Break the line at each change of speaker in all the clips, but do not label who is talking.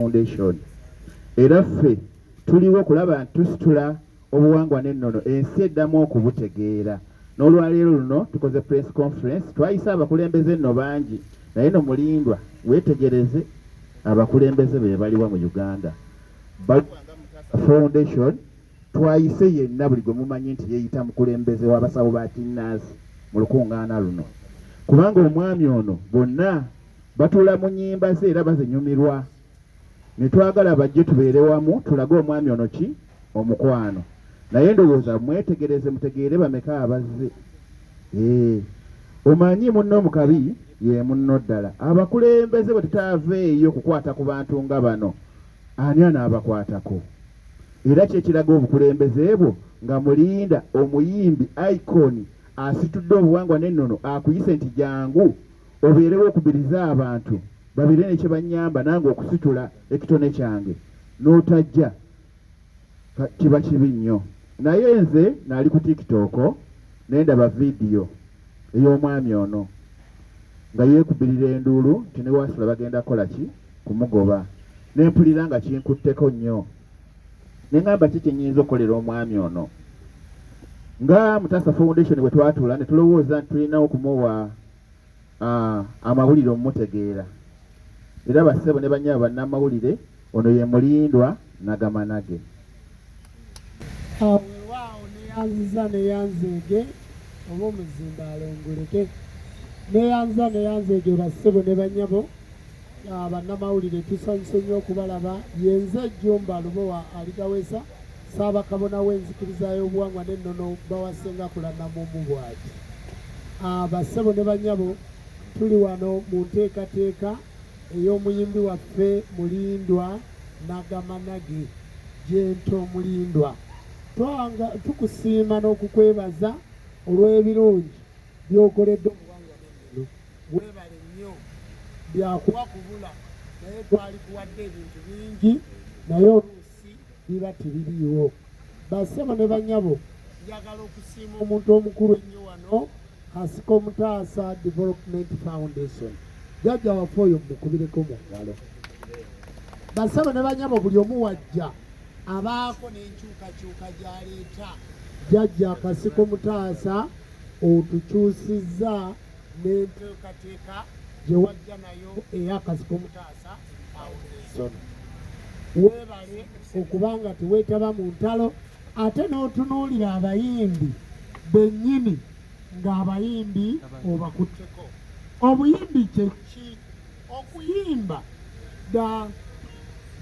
Foundation era ffe tuliwo kulaba nti tusitula obuwangwa n'ennono ensi eddamu okubutegeera n'olwaleero luno tukoze press conference twayise abakulembeze nno bangi naye no mulindwa weetegereze abakulembeze be baliwa mu uganda foundation twayise yenna buli gwe mumanyi nti yeeyita mukulembeze w'abasawo ba kinnansi mu lukuŋŋaana luno kubanga omwami ono bonna Batuula mu nnyimba ze era bazinyumirwa ne twagala bajje tubeere wamu tulage omwami ono ki omukwano naye ndowooza mwetegereze mutegeere bameka abazze ee omanyi munno mukabi ye munno ddala abakulembeze bwe tutaaveeyo kukwata ku bantu nga bano ani anaabakwatako era kyekiraga obukulembeze bwo nga mulinda omuyimbi iconi asitudde obuwangwa n'ennono akuyise nti jangu obeerewo okubirize abantu babeere ne kye bannyamba nange okusitula ekitone kyange n'otajja kiba kibi nnyo naye nze naali ku tiktok naye ndaba vidiyo ey'omwami ono nga yeekubirira enduulu nti ne wasula bagenda kukola ki kumugoba ne mpulira nga kinkutteko nnyo ne ŋamba ki kye nnyinza okukolera omwami ono nga mutasa foundation bwe twatula ne tulowooza nti tulina okumuwa uh, amawulire omutegeera era bassebo ne banyaba bannamawulire ono ye mulindwa nagamanage
awewaawo neyanziza neyanzeege oba omuzimba alongoleke neyanziza neyanzeege bassebo ne banyabo bannamawulire tusanyuse nnyo okubalaba yenze ejjumba lubowa aligawesa Ssaabakabona w'enzikiriza y'obuwangwa n'ennono Bawasenga Kulanamumu bw'ati, Abassebo ne bannyabo tuli wano mu nteekateeka ey'omuyimbi waffe Mulindwa Nagamanage, Gentle Mulindwa. Tukusiima n'okukwebaza olw'ebirungi by'okoledde obuwangwa n'ennono. Weebale nnyo. Byakuwa kubula naye twalikuwadde ebintu bingi naye oluusi biba tebiriiwo basebo ne banyabo njagala okusiima omuntu omukulu ennyo wano kasika omutaasa development foundation jajja wafe oyo mukubireko mu ngalo basebo ne banyabo buli omu wajja abaako n'enkyukakyuka gyaleeta jajja kasika omutaasa otukyusizza n'enteekateeka gye wajja nayo ey'akasi k'omutaasa awulirizona weebale okuba nga teweetaba mu ntalo ate n'otunuulira abayimbi bennyini ng'abayimbi obakutteko obuyimbi kyeki okuyimba da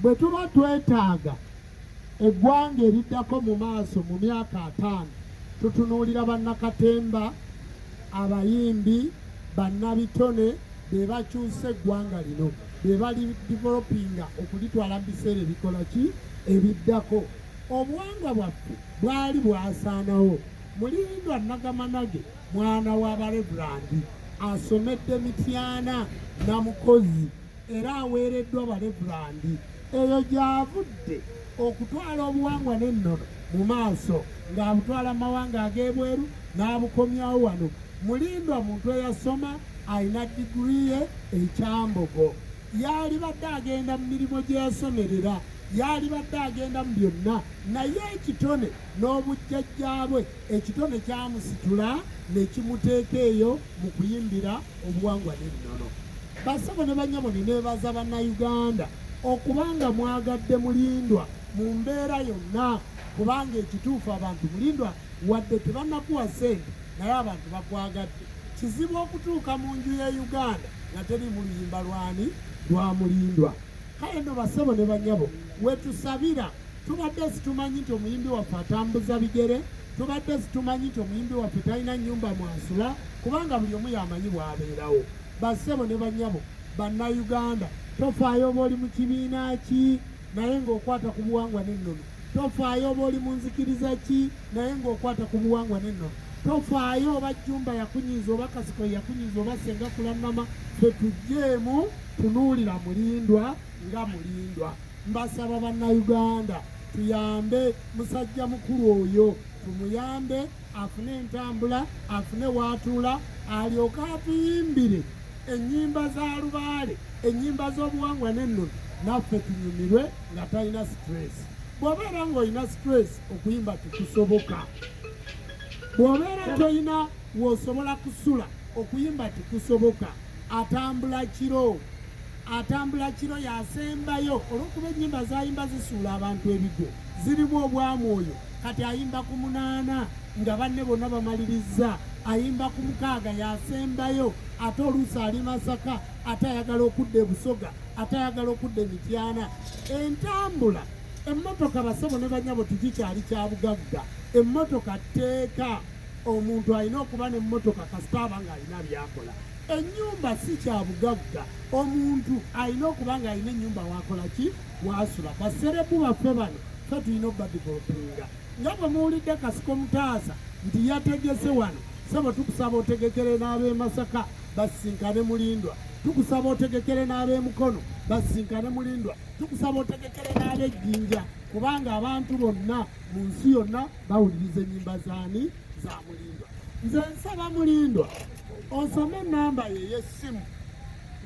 bwe tuba twetaaga Eggwanga eriddako mu maaso mu myaka ataano tutunuulira bannakatemba, abayimbi, bannabitone be bakyusa eggwanga lino be bali developinga okulitwala mu biseera ebikola ki ebiddako obuwangwa bwaffe bwali bwasaanawo mulindwa nagamanage mwana wa barevulandi asomedde mityana na mukozi era aweereddwa Balevulandi. Eyo gy'avudde okutwala obuwangwa n'ennono mu maaso ng'abutwala mu mawanga ag'ebweru n'abukomyawo wano. Mulindwa muntu eyasoma alina diguli ye ekyambogo. Yaalibadde agenda mu mirimu gye yasomerera, yaalibadde agenda mu byonna, naye ekitone n'obujjajjaabwe ekitone kyamusitula ne kimuteeka eyo mu kuyimbira obuwangwa n'ennono. Basebo ne bannyabo neneebaza Bannayuganda okubanga mwagadde Mulindwa mu mbeera yonna kubanga ekituufu abantu Mulindwa wadde tebanakuwa ssente naye abantu bakwagadde. Kizibu okutuuka mu nju ya Uganda nga teriimu luyimba lwani lwa Mulindwa. Kale no basebo ne bannyabo wetusabira tubadde situmanyi nti omuyimbi waffe atambuza bigere tubadde situmanyi nti omuyimbi waffe talina nyumba mwasula kubanga buli omu yamanyi bwabeerawo Bassebo ne bannyabo Bannayuganda, tofaayo oba oli mu kibiina ki naye ng'okwata ku buwangwa n'ennono. Tofaayo oba oli mu nzikiriza ki naye ng'okwata ku buwangwa n'ennono. Tofaayo oba jjumba yakunyiza oba kasiko yakunyiza oba senga kulannama, fe tujjeemu tunuulira mulindwa nga mulindwa. Mbasaba Bannayuganda tuyambe musajja mukulu oyo, tumuyambe. afune entambula afune waatuula alyoke atuyimbire ennyimba za lubaale ennyimba z'obuwangwa n'ennono naffe tunyumirwe nga talina situresi bw'obeera ng'olina situresi okuyimba tekusoboka bw'obeera tolina w'osobola kusula okuyimba tekusoboka atambula kiro atambula kiro yasembayo olw'okuba ennyimba zayimba zisuula abantu ebigo zirimu obwamwoyo kati ayimba ku munaana nga banne bonna bamalirizza ayimba ku mukaaga yasembayo ate oluusi ali masaka ate ayagala okudda ebusoga ate ayagala okudda emityana entambula emmotoka basebo ne banyabo tikikyali kya bugagga emmotoka tteeka omuntu alina okuba n'emmotoka kasita aba ng'alina byakola ennyumba si kya bugagga omuntu alina okuba ng'alina ennyumba wakola ki wasula baserebu baffe bano fe tulina obadivolopinga nga bwe muwulidde kasiko mutaasa nti yategese wano sebo tukusaba otegekere n'ab'e masaka basisinkane mulindwa tukusaba otegekere n'ab'e mukono basisinkane mulindwa tukusaba otegekere n'ab'e jjinja kubanga abantu bonna mu nsi yonna bawuliriza ennyimba zaani za mulindwa nze nsaba mulindwa osome enamba ye ey'essimu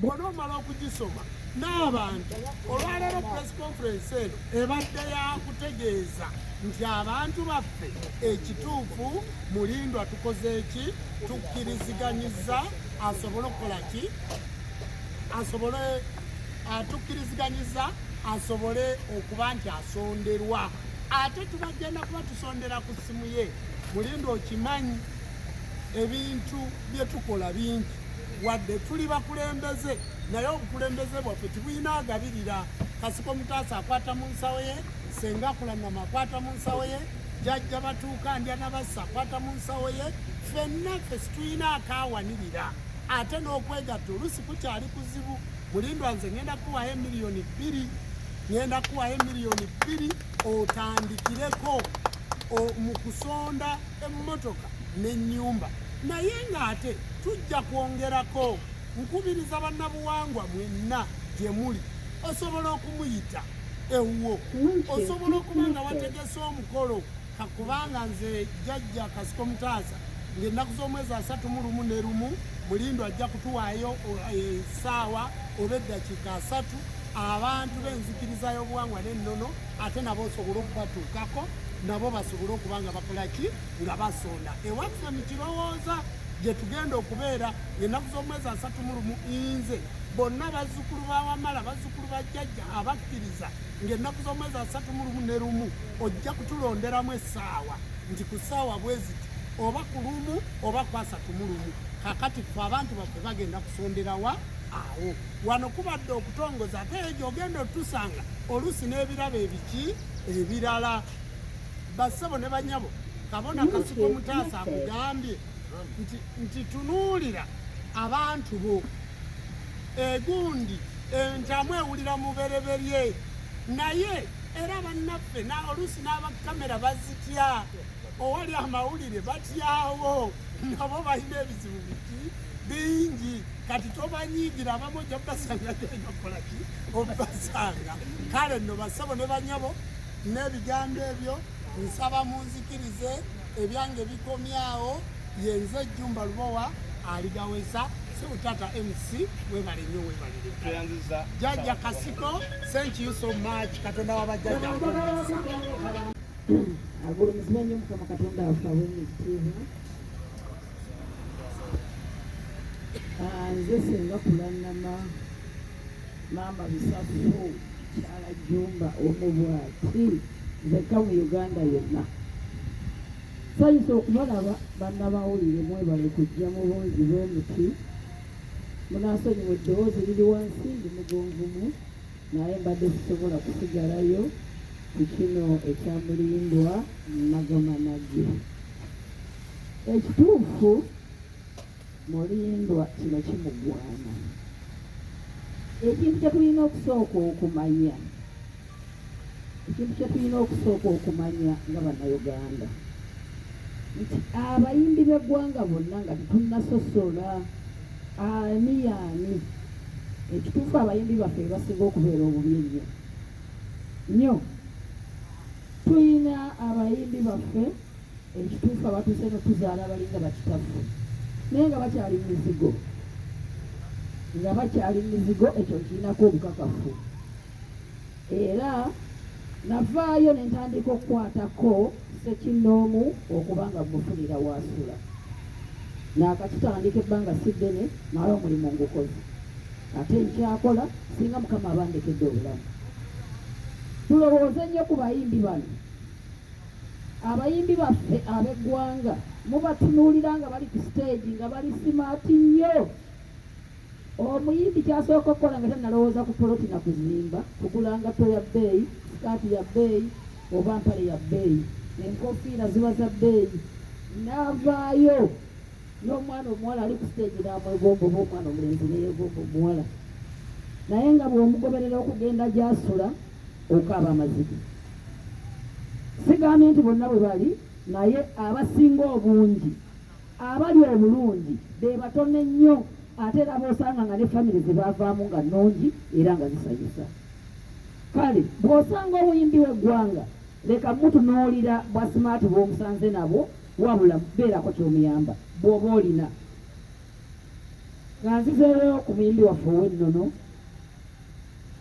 bwona omala okugisoma n'abantu olwaleero press conference eno ebadde yakutegeeza nti abantu baffe ekituufu mulindwa tukoze eki tukkiriziganyiza asobole okukola ki asobole atukkiriziganyiza asobole okuba nti asonderwa ate tubagenda kuba tusondera ku ssimu ye mulindwa okimanyi ebintu bye tukola bingi wadde tuli bakulembeze naye obukulembeze bwaffe tibulina agabirira kasiko mutaasa akwata mu nsawo ye senga kulanama akwata mu nsawo ye jajja batuuka ndya nabassa akwata mu nsawo ye fenna ffe situlina akawanirira ate n'okwegatta olusi kukyali kuzibu mulindwa nze ngenda kuwayo emiliyoni bbiri ngenda kuwayo emiliyoni bbiri otandikireko mu kusonda emmotoka n'ennyumba Naye ng'ate tujja kwongerako. Nkubiriza bannabuwangwa mwenna gye muli osobola okumuyita ewuwo osobola okuba nga wategese omukolo kakubanga nze jajja kasiko mutaasa ngaennaku z'omwezi asatu mu lumu ne lumu mulindo ajja kutuwaayo esaawa eh, oba eddakiika asatu abantu b'enzikiriza y'obuwangwa n'ennono ate nabo osobole okubatuukako nabo basobole okuba nga bakolaki nga basonda ewaffe mu kirowooza gye tugenda okubeera ng'ennaku z'omwezi asatu mu lumu inze bonna bazzukulu ba wamala bazzukulu ba jjajja abakkiriza ng'ennaku z'omwezi asatu mu lumu ne lumu ojja kutulonderamu essaawa nti ku ssaawa bweziti oba ku lumu oba ku asatu mu lumu kakati fe abantu baffe bagenda kusonderawa awo wano kubadde okutongoza ate eyo gyogenda otusanga oluusi n'ebirabo ebiki ebirala bassebo ne banyabo kabona kasiko mutaasa akugambye nti tunuulira abantu bo egundi entamu ewulira mubereberye naye era bannaffe oluusi n'abakamera bazitya owali amawulire batyawo nabo balina ebizibu biki bingi kati tobanyiigira abamu ojja basanga geyokolaki obasanga kale nno basabo ne banyabo n'ebigambo ebyo nsaba munzikirize ebyange bikomyawo yenze ejjumba lubowa aligaweza siutata mc webale nyo webalire jajja kasiko thank you so much katonda wabajjajja
agulumizibwa nyo mukama katonda wafe awemitiibwa nze senga kulanama Maama Bisasu mukyala Jumba omu bwati nzekka mu Uganda yonna sayisa okubalaba bannabawulire mwebale kujja mu bungi bw'omuti munaasonyiwa eddoboozi liri wansi ndi mugonvumu naye mbadde sisobola kusigalayo ku kino ekyamulindwa nagamanagi ekituufu Mulindwa kino kimugwana. Ekintu kyetulina okusooka okumanya ekintu kyetulina okusooka okumanya nga bannayuganda nti abayimbi b'eggwanga bonna nga tetunasosola ani yaani ekituufu abayimbi baffe bebasinga okubeera obubi ennyo nnyo tuyina abayimbi baffe Ekituufu abatuuse eno tuzaala abalinga bakitaffe naye nga bakyali mu mizigo, nga bakyali mu mizigo. Ekyo nkirinako obukakafu era navaayo ne ntandika okukwatako sekinnoomu okuba nga mufunira waasula naakakitandika ebbanga si ddene naye omulimu ngukozi ate nkyakola singa mukama abandekedde obulamu tulowooze nnyo ku bayimbi bano Abayimbi baffe ab'eggwanga mubatunuulira nga bali ku siteegi nga bali simaati nnyo. Omuyimbi ky'asooka okukola nga tannalowooza ku poloti na kuzimba, kugula ngatto ya bbeeyi, sikaati ya bbeeyi oba mpale ya bbeeyi, enkofiira ziba za bbeeyi, n'avaayo n'omwana omuwala ali ku siteegi n'amwegomba oba omwana omulenzi ne yeegomba omuwala naye nga bw'omugoberera okugenda gy'asula Okaaba amazike. Sigambye nti bonna bwe bali naye abasinga obungi abali obulungi be batono ennyo ate era b'osanga nga ne famire ze baavaamu nga nnungi era nga zisanyusa. Kale bw'osanga omuyimbi w'eggwanga leka mutunuulira bwa simaati bw'omusanze nabwo wabula beerako ky'omuyamba bw'oba olina. Nga nzizeeyo ku muyimbi waffe ow'ennono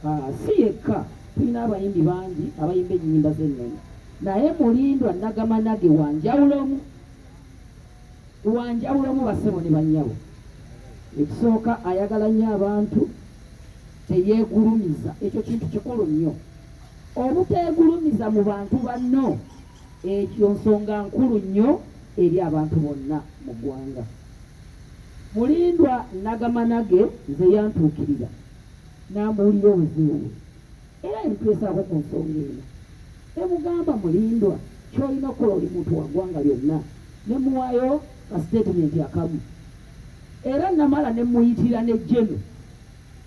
Ah, si yekka tulina abayimbi bangi abayimba ennyimba z'ennono naye mulindwa nagamanage wanjawulomu wanjawulomu basebo ne banyabo ekisooka ayagala nnyo abantu teyeegulumiza ekyo kintu kikulu nnyo obuteegulumiza mu bantu banno ekyo nsonga nkulu nnyo eri abantu bonna mu ggwanga Mulindwa nnagamba nage nze yantuukirira n'ambuulira obuzibu bwe era ebitwesaako ku nsonga eno ne mugamba Mulindwa ky'olina okukola oli muntu wa ggwanga lyonna ne muwaayo ka siteetimenti akamu era nnamala ne mmuyitira ne Jeno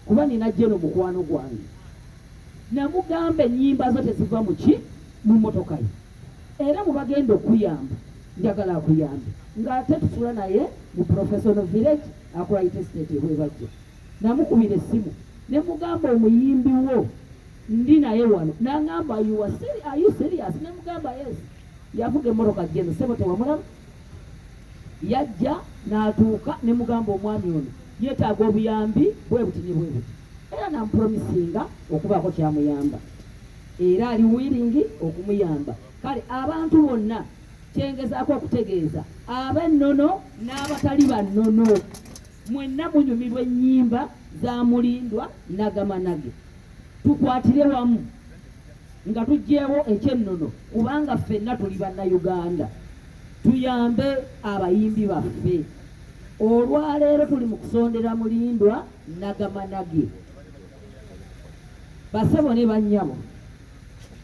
kuba nina Jeno mukwano gwange namugamba ennyimba zo teziva mu ki mu mmotoka ye. Era bwebagenda okukuyamba njagala akuyambe nga ate tusula naye mu professional village Akurai estate e Bwebajja. Namukubira essimu ne mugamba omuyimbi wo ndi naye wano nangamba you are serious, are you serious? Ne mugamba yes. Yavuga emmoroka jeno sebo tewamulaba yajja natuuka ne mugamba omwami ono yetaaga obuyambi bwebuti ne bwebuti era nampromisinga okubaako kyamuyamba. Era ali willing okumuyamba. Kale abantu bonna kyengezaako okutegeeza ab'ennono n'abatali ba nnono mwenna munyumirwa ennyimba za Mulindwa Nagamanage. Tukwatire wamu nga tugyewo ekyennono kubanga ffenna tuli bannayuganda tuyambe abayimbi baffe olwaleero tuli mu kusondera mulindwa nagamanage basebo ne bannyabo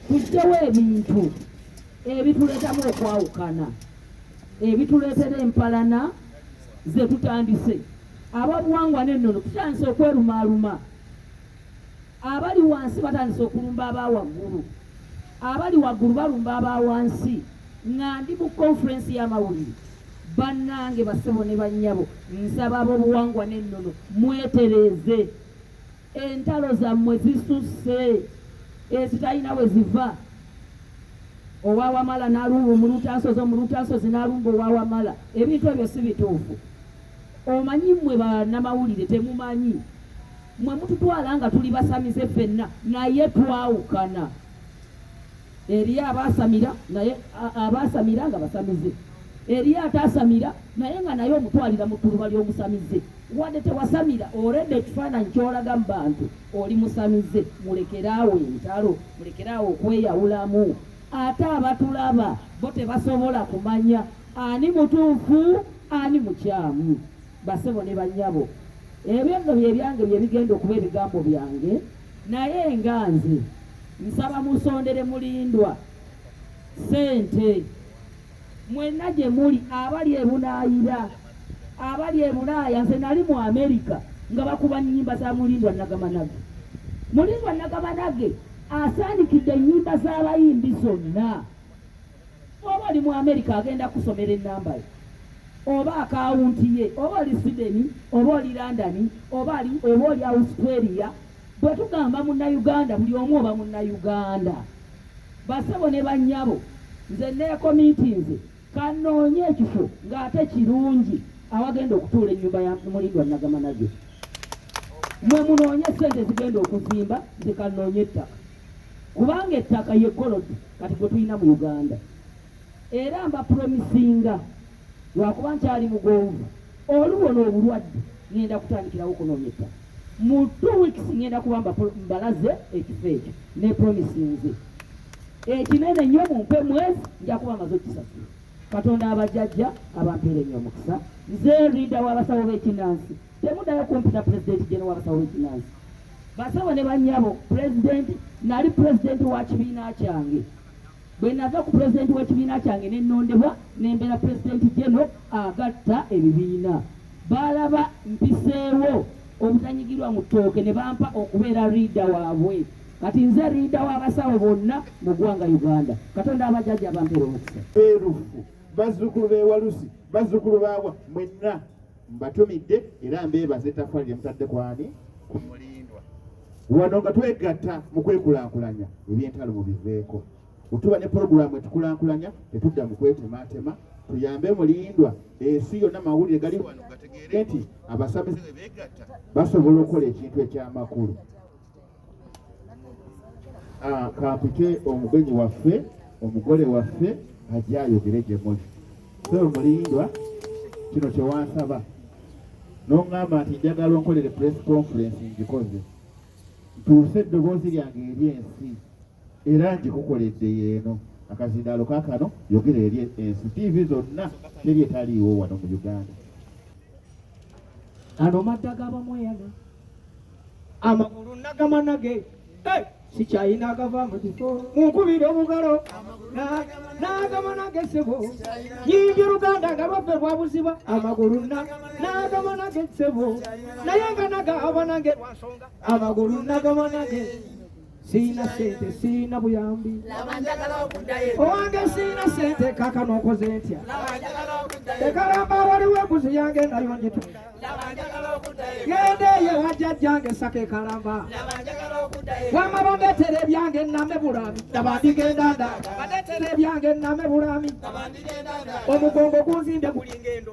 tujjewo ebintu ebituleetamu okwawukana ebituleetera empalana ze tutandise ababuwangwa n'ennono tutandise okwerumaaluma abali wansi batandise okulumba aba waggulu abali waggulu balumba aba wansi nga ndi mu konferensi y'amawulire bannange basebo ne bannyabo nsaba ab'obuwangwa n'ennono mwetereeze entalo zammwe zisusse ezitalina we ziva owa wamala nalumba omulutasozi omulutasozi nalumba owa wamala ebintu ebyo si bituufu omanyi mmwe banamawulire temumanyi mmwe mututwala nga tuli basamize ffenna naye twawukana Eriyo abaasamira naye abaasamira nga basamize. Eriyo ataasamira naye nga naye omutwalira mu ttuluba ly'omusamize. Wadde tewasamira olwedde ekifaananyi ky'olaga mu bantu oli musamize. Mulekeraawo entalo, mulekeraawo okweyawulamu. Ate abatulaba bo tebasobola kumanya ani mutuufu ani mukyamu. Basebo ne bannyabo, ebyo nno bye byange bye bigenda okuba ebigambo byange. Naye nga nze nsaba musondere mulindwa sente mwenna gye muli abali ebunaayira abali ebulaaya nze nali mu amerika nga bakuba nnyimba za mulindwa nagamanage mulindwa nagamanage asaanikidde ennyimba z'abayimbi zonna Oba oli mu Amerika agenda kusomera ennamba ye oba akawunti ye, oba oli Sweden, oba oli London, oba ali oba oli Australia. Bwe tugamba munnayuganda, buli omu oba munnayuganda. Basebo ne bannyabo, nze neekomiitinze kanoonye ekifo ng'ate kirungi awagenda okutuula ennyumba ya Mulindwa Nagamanagyo. Mwe munoonye ssente zigenda okuzimba, nze kanoonye ettaka. Kubanga ettaka ye gold kati gwe tulina mu Uganda era mba promisinga lwakuba nkyali mugonvu oluwo n'obulwadde ngenda kutandikirawo okunoonya ettaka mu two weeks ngenda kuba mbalaze ekifo ekyo ne promisinze ekinene nnyo mumpe mwezi nja kuba maze okukisasula katonda abajajja abampeere nnyo omukisa nze rida w'abasawo b'ekinansi Temudayo kumpita president Gen wabasawo wekinansi basawo ne banyabo president nali president wa kibiina kyange bwenava ku president wekibiina kyange nenondebwa nembera president geno agatta ebibiina balaba mpiseewo obutanyigirwa mu tooke ne bampa okubeera riida waabwe kati nze riida w'abasawo bonna mu ggwanga uganda katonda abajjaja abampera omukisa erufu
bazzukulu bewalusi bazzukulu bawa mwenna Mbatumidde era mbeebaza ettaffaali lye mutadde ku ani? Ku Mulindwa. Wano nga twegatta mu kwekulaakulanya eby'entalo mu biveeko. Bwetuba ne pulogulaamu etukulaakulanya tetudda mu kwetemaatema, tuyambe Mulindwa ensi yonna mawulire gali wano gategeere nti abasamize bwe beegatta basobola okukola ekintu eky'amakulu. Ah, kampite omugenyi waffe omugole waffe ajja ayogere gye muli so mulindwa kino kyewansaba n'oŋŋamba nti njagala onkolere press conference ngikoze ntuuse eddoboozi lyange eri ensi era ngikukoledde yeeno akazindaalo kakano yogera eri ensi tiivi zonna teri etaliiwo wano mu uganda
ano madda gabamweyana amagulu nagamanage eh, sikyayina agava mu kifo munkubira obugalo nagamanage sebo yimbye oluganda nga lwaffe lwabuziba amagulu nagamanage sebo naye nga nagabanage lwansonga amagulu nagamanage sirina sente sirina buyambi owange sirina sente kaka nokoze ntya ekalamba waliwo embuzi yange nayo njitu genda eyo wajjajjange saka ekalamba wama bandetera ebyange name bulami daba ndigenda nda bandetera ebyange name bulami omugongo gunzinde gulinga endo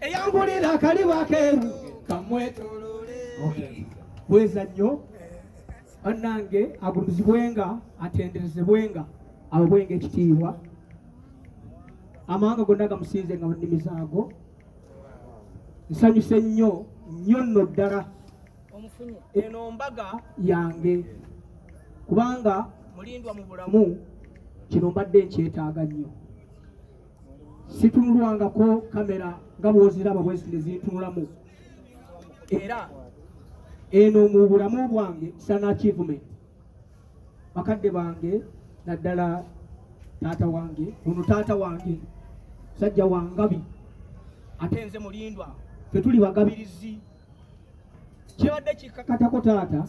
eyangulira akaliba akeeru kamwetolole bweza nnyo bannange agulumizibwenga atenderezebwenga awebwenga ekitiibwa amawanga gonna gamusinze nga munnimi zaago nsanyuse nnyo nnyo nno ddala eno mbaga yange kubanga mulindwa mu bulamu kino mbadde nkyetaaga nnyo situnulwangako kamera nga bwoziraba bweziti nezintunulamu era eno mu bulamu bwange sana achievement bakadde bange naddala taata wange ono taata wange sajja wangabi ate nze mulindwa fe tuli bagabirizi kibadde kikakatako taata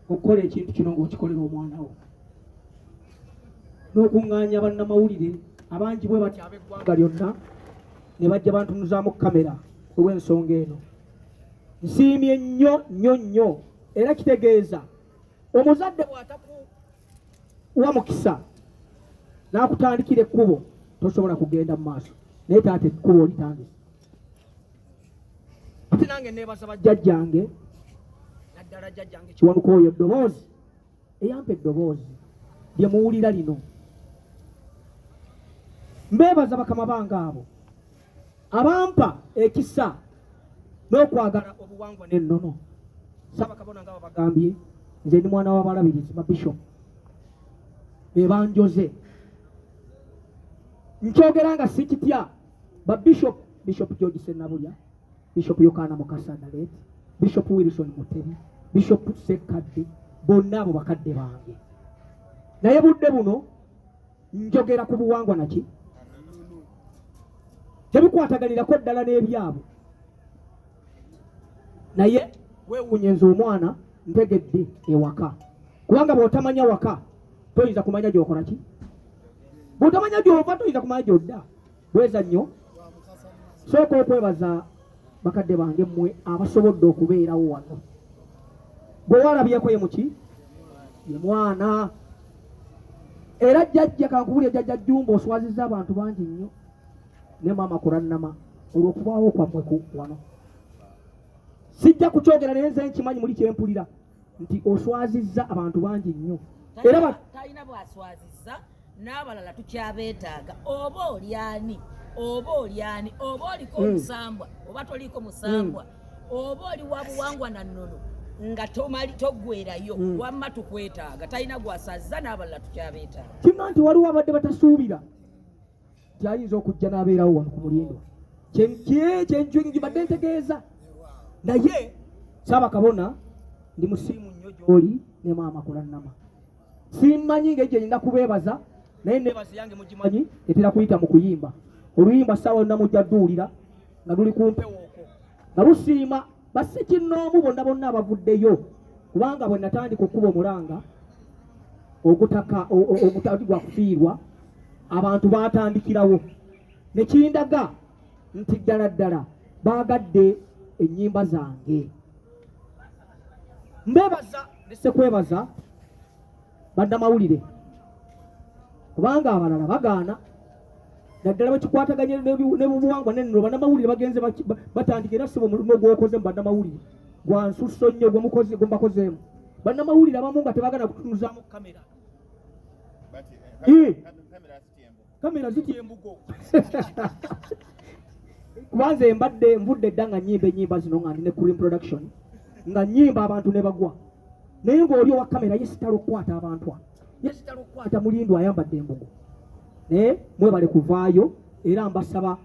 okukola ekintu kino ngaokikolera omwana wo n'okuŋŋaanya bannamawulire abangi bwe batyo ab'eggwanga lyonna ne bajja bantunuzaamu kamera olw'ensonga eno nsiimye nnyo nnyo nnyo era kitegeeza omuzadde bw'atakuwa mukisa n'akutandikira ekkubo tosobola kugenda mu maaso naye taata ekkubo olitandise ate nange neebaza bajjajjange naddala jjajjange kiwanuka oyo eddoboozi eyampa eddoboozi lye muwulira lino mbeebaza bakama bange abo abampa ekisa n'okwagala obuwangwa n'ennono saabakabona nga babagambye nze ndi mwana w'abalabirizi mabishop ebanjoze nkyogera nga sikitya babishop bishop george senabulya Bishop Yokaana Mukasa Naleti, Bishop Wilson Mutebi, Bishop Sekkadde, bonna abo bakadde bange. Naye budde buno njogera ku buwangwa naki tebikwataganirako ddala n'ebyabo naye wewunye nze omwana ntegedde ewaka kubanga bwotamanya waka toyinza kumanya gyokola ki bwotamanya gyova toyinza kumanya gyodda bweza nnyo sooka okwebaza bakadde bange mmwe abasobodde okubeerawo wano gwe walabyeko ye muki ye mwana era jjajja kankubulya jjajja jjumba oswaziza abantu bangi nnyo ne maama kulannama olw'okubaawo kwammwe ku wano sijja kukyogera naye nze nkimanyi muli kyempulira nti oswazizza abantu bangi nnyo era talina bwaswazizza
n'abalala tukyabeetaaga oba olyani oba olyani oba oliko hmm. omusambwa oba toliko musambwa hmm. oba oli wa buwangwa na nnono nga tomali toggwerayo hmm. wamma tukwetaaga talina gwasazza n'abalala tukyabeetaaga kimma nti waliwo abadde
batasuubira nti ayinza okujja n'abeerawo wano ku mulindo kyenkibadde ntegeeza naye saaba kabona ndi musiimu nnyo gy'oli ne maama kulannama simmanyi nga egyo erina kubeebaza naye neebaza yange mugimanyi etera kuyita mu kuyimba oluyimba ssaawa yonna mujja duwulira nga luli ku mpewo nga lusiima bassikinnoomu bonna bonna abavuddeyo kubanga bwe natandika okukuba omulanga ogutaka ogutali gwa kufiirwa abantu baatandikirawo ne kindaga nti ddala ddala baagadde ennyimba zange mbeebaza nesekwebaza badda mawulire kubanga abalala bagaana naddala bakikwataganya nebubuwangwa nenno banamawulire bagenze batandika era siba omulimo gwokoze mu banamawulire gwansusso nnyo gwemubakozeemu banamawulire abamu nga tebagala kutunuzaamu kamera eh, eh, kamera zitya embugo kubanze mbadde nvudde dda nga nyimba enyimba zino nga ndi ne cream production nga nyimba abantu ne bagwa naye ng'oli owa kamera yesitala okukwata abantu a yesitala okukwata mulindu ayambadde embugo naye mwebale kuvaayo era mbasaba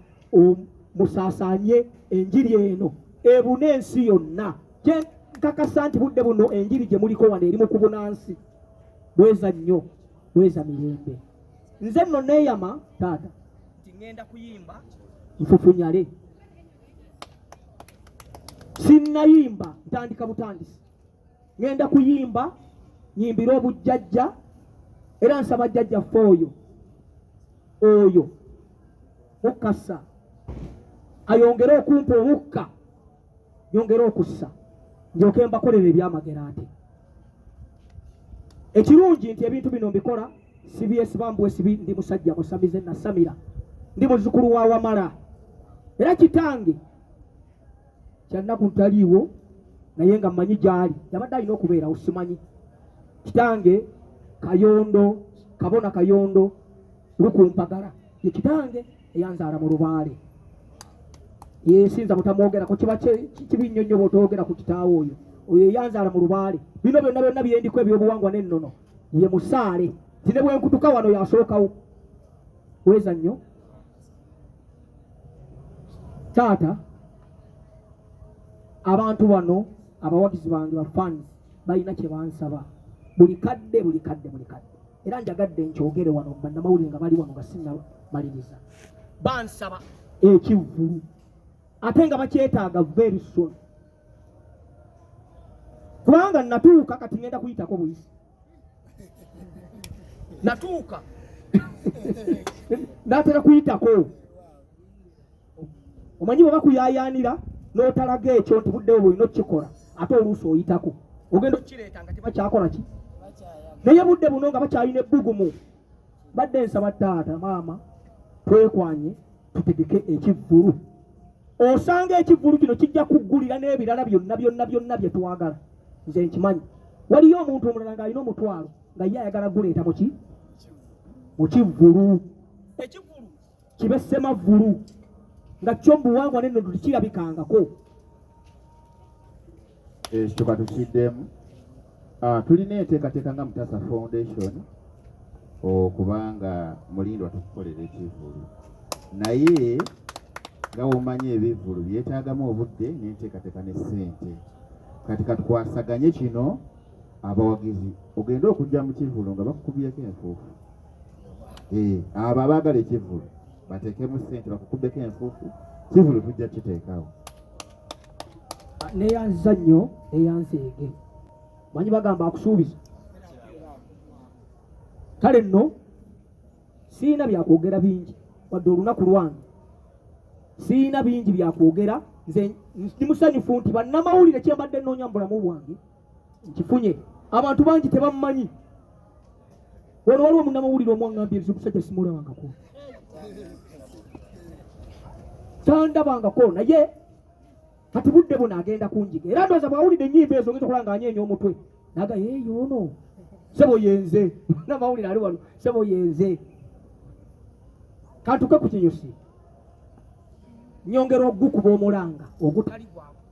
musaasanye enjiri eno ebuna ensi yonna nkakasa nti budde buno enjiri gye muliko wano eri mu kubuna nsi bweza nnyo bweza mirembe nze nno neeyama taata nti ŋŋenda kuyimba nfufunyale sinnayimba ntandika butandisi ŋŋenda kuyimba nyimbire obujjajja era nsaba jjajja ffe oyo oyo mukasa ayongere okumpa omukka nyongere okussa ndyoke mbakolera ebyamagero ate ekirungi nti ebintu bino mbikola sibyesiba mbwesibi ndi musajja musamize nasamira ndi muzukulu wa wamala era kitange kyannaku ntaliiwo naye nga mmanyi gyali yabadde alina okubeerawo simanyi kitange kayondo kabona kayondo lukumpagala ye kitange eyanzaala mu lubaale yesinza butamwogerako kiba kibi nnyo nnyo bwotoyogera ku kitaawo oyo oyo eyanzaala mu lubaale bino byonna byonna byendiko ebyobuwangwa n'ennono ye musaale ti ne bwenkutuka wano yasookawo weza nnyo taata abantu bano abawagizi bange bafans balina kyebansaba buli kadde buli kadde buli kadde era njagadde nkyogere wano bannamawulire nga bali wano nga sinnamaliriza bansaba ekivvulu ate nga bakyetaaga very soon kubanga natuuka kati ngenda kuyitako buyisi natuuka natera kuyitako omanyi bwe bakuyayaanira n'otalaga ekyo nti buddewo bwolina okukikola ate oluusi oyitako ogenda okukireeta nga tebakyakola ki naye budde buno nga bakyalina ebbugumu badde nsaba taata maama twekwanye tutegeke ekivvulu osanga ekivvulu kino kijja kuggulira n'ebirala byonna byonna byonna bye twagala nze nkimanyi waliyo omuntu omulala ng'alina omutwalo nga ye ayagala guleeta muki mu kivvulu ekivvulu kibe semavvulu nga kyo mubuwangwa neno tulikirabikangako
ekyo eh, katukiddemu ah, tulina enteekateeka nga mutasa foundation okubanga mulindwa tukukolera ekivulu naye nga womanyi ebivulu byetaagamu obudde nenteekateeka ne ssente kati katukwasaganye kino abawagizi ogende okujja mu kivulu nga bakukubyeko enfuufu eh, abo abaagala ekivulu bateekemu ssente bakukubeko enfuufu kivulu tujja kiteekawo
neyanziza nnyo eyanseege manyi bagamba akusuubiza kale nno sirina byakwogera bingi wadde olunaku lwange sirina bingi byakwogera nze ndi musanyufu nti bannamawulire kyembadde nnoonya mu bulamu bwange nkifunye abantu bangi tebamumanyi wano waliwo munamawulire omwaŋambye nze omusajja simulabangako tandabangako naye kati budde buno agenda kunjiga era ndoza bwawulidde enyimba ezo ngeza okulanga anyeenya omutwe naga yeeyo ono sebo yenze namawulire ali wano sebo yenze kantuke ku kinyusi nyongera ogukuba omulanga ogutali gwamu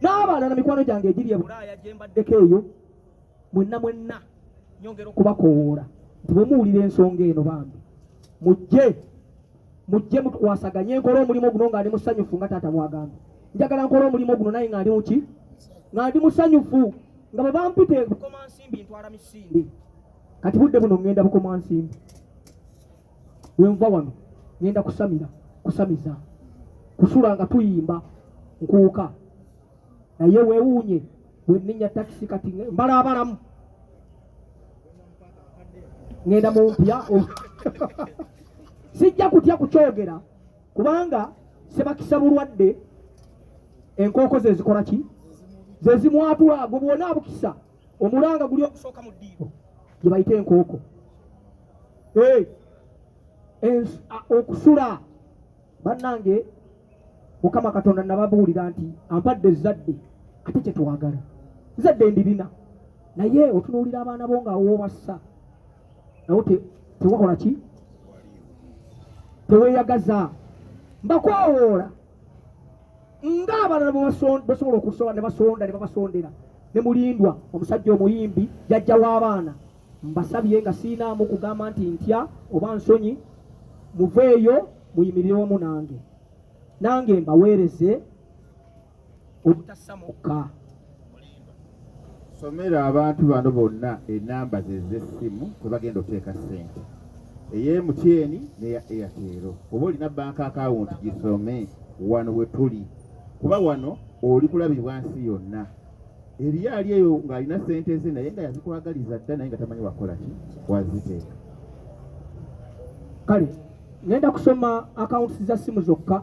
n'abalala mikwano gyange egiri e bulaaya gye mbaddeko eyo mwenna mwenna nyongera okubakowoola nti bwe muwulira ensonga eno bambi mujje mujje mutukwasaganye nkole omulimu guno nga ndi musanyufu nga taata bwagamba njagala nkole omulimu guno naye nga ndi muki nga ndi musanyufu nga bwe bampite bukomansimbi ntwala misinde kati budde buno ŋŋenda bukomansimbi wenva wano ngenda kusamira kusamiza kusula nga tuyimba nkuuka naye wewuunye wenenya takisi kati mbala abalamu ngenda mumpya sijja kutya kukyogera kubanga sebakisa bulwadde enkooko zezikola ki zezimwatula gwe bwona abukisa omulanga guli ogusooka mu ddiiro gye bayita enkooko okusula bannange mukama katonda nababuulira nti ampadde ezzadde ate kye twagala zadde ndirina naye otunuulira abaana bo nga wobassa nawo tewakola ki teweyagaza mbakwawoola nga abalala bwebasobola okusonda ne basonda ne babasondera ne mulindwa omusajja omuyimbi jajja w'abaana mbasabye nga siinaamu kugamba nti ntya oba nsonyi muveeyo muyimirire wamu nange nange mbaweereze obutassa mukka
Somera abantu bano bonna enamba ze z'essimu kwe bagenda okuteeka ssente eya MTN n'eya Airtel. Oba olina banka akawunti gisome wano we tuli kuba wano oli kulabibwa nsi yonna. Eriyo ali eyo ng'alina ssente ze naye nga yazikwagaliza dda naye nga tamanyi wakola ki waziteeka.
Kale ngenda kusoma akawunti za ssimu zokka.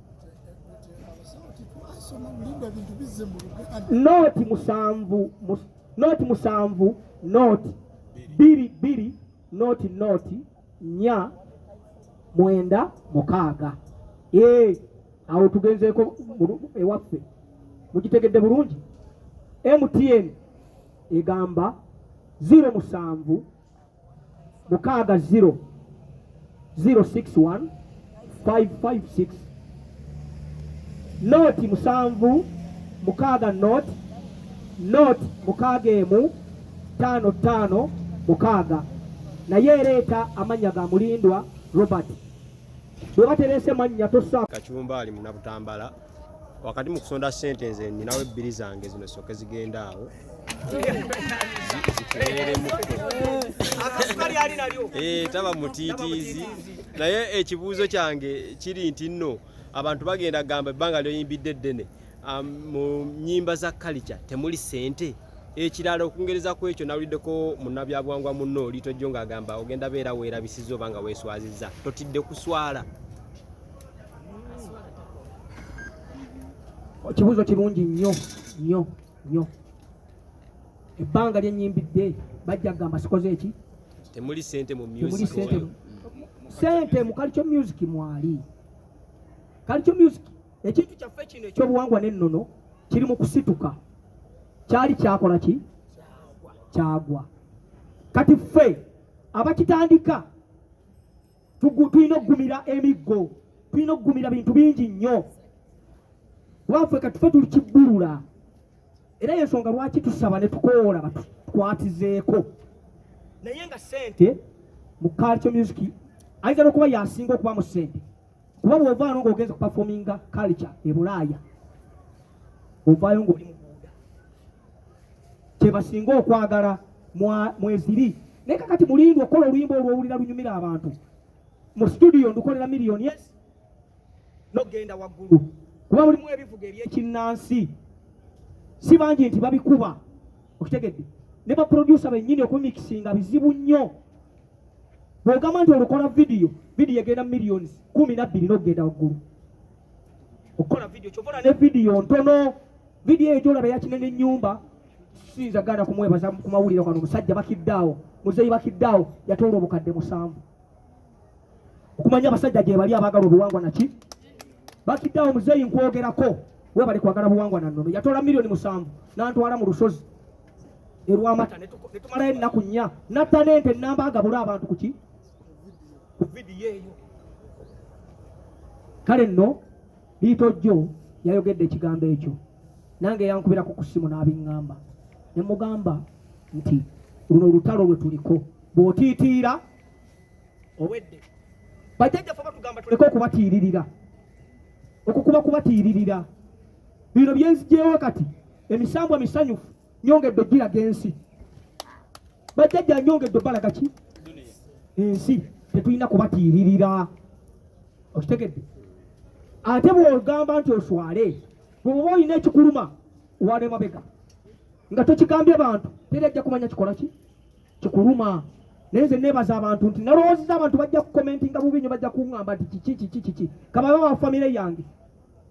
nooti musanvu nooti musanvu nooti bbiri bbiri nooti nooti nya mwenda mukaaga ee awo tugenzeeko ewaffe mugitegedde bulungi mtn egamba ziro musanvu mukaaga 0 061 556 nooti musanvu mukaaga nooti nooti mukaaga emu ttaano ttaano mukaaga naye ereeta amannya ga mulindwa robert bwe baterese mannya tosa kacumba ali munabutambala
wakati mu kusonda ssente nze ninawo ebbiri zange zino soke zigenda awo eh, taba mutiitiizi naye ekibuuzo kyange kiri nti nno abantu bagenda gamba ebbanga lyoyimbidde eddene um, mu nyimba za kalica temuli ssente ekirala okungereza ku ekyo nawuliddeko munabyabuwangwa munno liitojjo ng'agamba ogenda beera weerabisiza oba nga weeswaziza totidde kuswala
Ekibuuzo kirungi nnyo nnyo nnyo. Ebbanga lye nnyimbidde bajja kugamba sikoze eki? Temuli sente
mu music.
Sente mu Kalicho Music mwali. Kalicho Music ekintu kyaffe kino ekyobuwangwa n'ennono kiri mu kusituka. Kyali kyakola ki? Kyagwa. Kati ffe abakitandika tulina okugumira emiggo tulina okugumira bintu bingi nnyo kubaffe katufe tuli kibbulula era yensonga lwaki tusaba ne tukoola batukwatizeeko naye nga sente mu culture music ayinza nokuba yasinga okuba mu sente kuba bwovaano ngaogenza okupafominga culture e bulaaya ovaayo ngaoli mubuuda kyebasinga okwagala mweziri naye kakati mulindwa okukola oluyimba olwowulira lunyumira abantu mu situdiyo ndukolera miliyoni yes nogenda waggulu kuba mulimu ebivuga ebyekinnansi si bangi nti babikuba okitegedde ne baproducer bennyini okumikisinga bizibu nnyo bwogamba nti olukola vidiyo vidiyo egenda mu millions kumi nabbiri nokugenda waggulu okukola vidiyo kyova ne vidiyo ntono vidiyo eyo gyolaba yakinene ennyumba Siyinza gaana kumwebaza ku mawulire kano omusajja bakiddaawo muzeeyi bakiddaawo yatoola obukadde musanvu okumanya abasajja gye bali abaagala obuwangwa naki bakiddaawo muzeeyi nkwogerako webale kwagala buwangwa na nnono yatoola miliyoni musanvu n'antwala mu lusozi erwamata ne tumalayo ennaku nnya natta n'ente nnamba agabula abantu ku ki ku vidiyo eyo kale nno Liito jjo yayogedde ekigambo ekyo nange yankubira ku kusimu n'abiŋŋamba ne mugamba nti luno olutalo lwe tuliko bw'otiitiira owedde bajjajjaffe batugamba tuleke okubatiiririra okukuba kubatiiririra bino byenzigyewo kati emisambwa misanyufu nyongedde giraga ensi bajjajja nyongedde obalaga ki ensi tetulina kubatiiririra okitegedde ate bwogamba nti oswale bweoba olina ekikuluma wala emabega nga tokigambye bantu teri ajja kumanya kikola ki kikuluma naye nze nebaza abantu nti nalowoozeza abantu bajja kukomentinga bubi nyo bajja kuŋamba nti kiki kiki kiki kababa bafamire yange